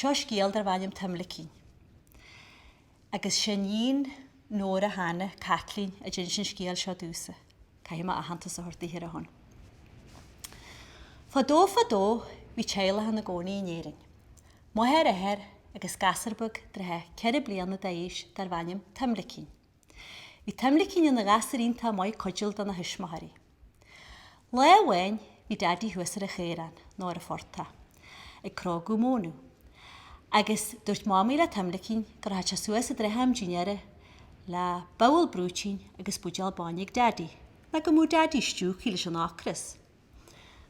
Seo scéal darbh ainm Tuimlicín agus is í níon Nóra Hannah, Caitlín, a d'inis an scéal seo domhsa. Caithfidh mé aitheantas a thabhairt daoithe ar a shon. Fadó fadó bhí teaghlach ina gcónaí in Éirinn. Máthair, athair agus gasúr beag i dtrátha ceithre bliana d'aois darbh ainm Tuimlicín. Bhí Tuimlicín ina ghasúr iontach maith cuidiúil do na thuismitheoirí. Lá amháin bhí Daidí thuas ar an chaorán, nó ar an phortach, ag cróigeadh mónadh. Agus dúirt Mamaí le Tuimlicín go rachadh sé suas i dtrátha am dinnéara le babhal brúitín agus buidéal bainne ag Daidí, nó go mbeadh Daidí stiúgtha leis an ocras.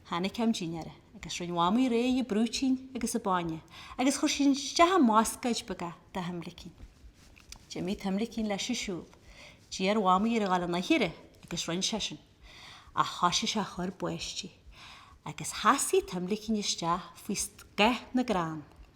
Tháinig am dinnéara agus rinn a mhamaí réidh an brúitín agus an bainne agus chuir sí isteach i mbascáid beag é do Thuimlicín. D'imigh Tuimlicín leis ag siúl. D'iarr a mhamaí air a dhul an aichearra agus rinn sé sin. Ach thoisigh sé a chur báistí. Agus sheasaigh Tuimlicín isteach faoi scáth na gcrann.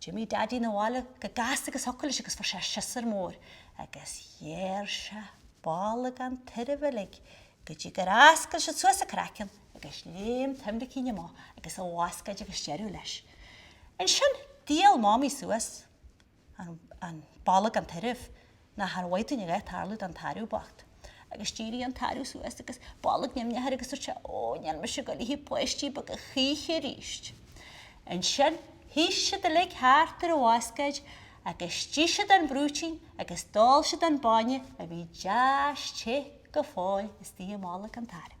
D'imigh Daidí 'na bhaile chomh gasta agus a thiocfadh leis agus fuair sé siosúr mór agus ghearr sé bolg an tairbh uilig go dtí gur fhoscail sé suas an craiceann agus léim Tuimlicín amach agus a bhascáid agus deireadh leis. Ansin d'fhuáil Mamaí suas an bolg an tairbh. Nachar mhaith dúinn a bheith ag tarlú don tarbh bocht. Agus d'éirigh an tarbh suas agus bolg nimhneach air agus dúirt sé Ó, níl mise ag gabháil a ithe páistí beaga choíche aríst. Ansin shuidh siad uilig thart ar an bhascáid agus d'ith siad an brúitín agus d'ól siad an bainne a bhí deas te go fóill istoigh i mbolg an tairbh.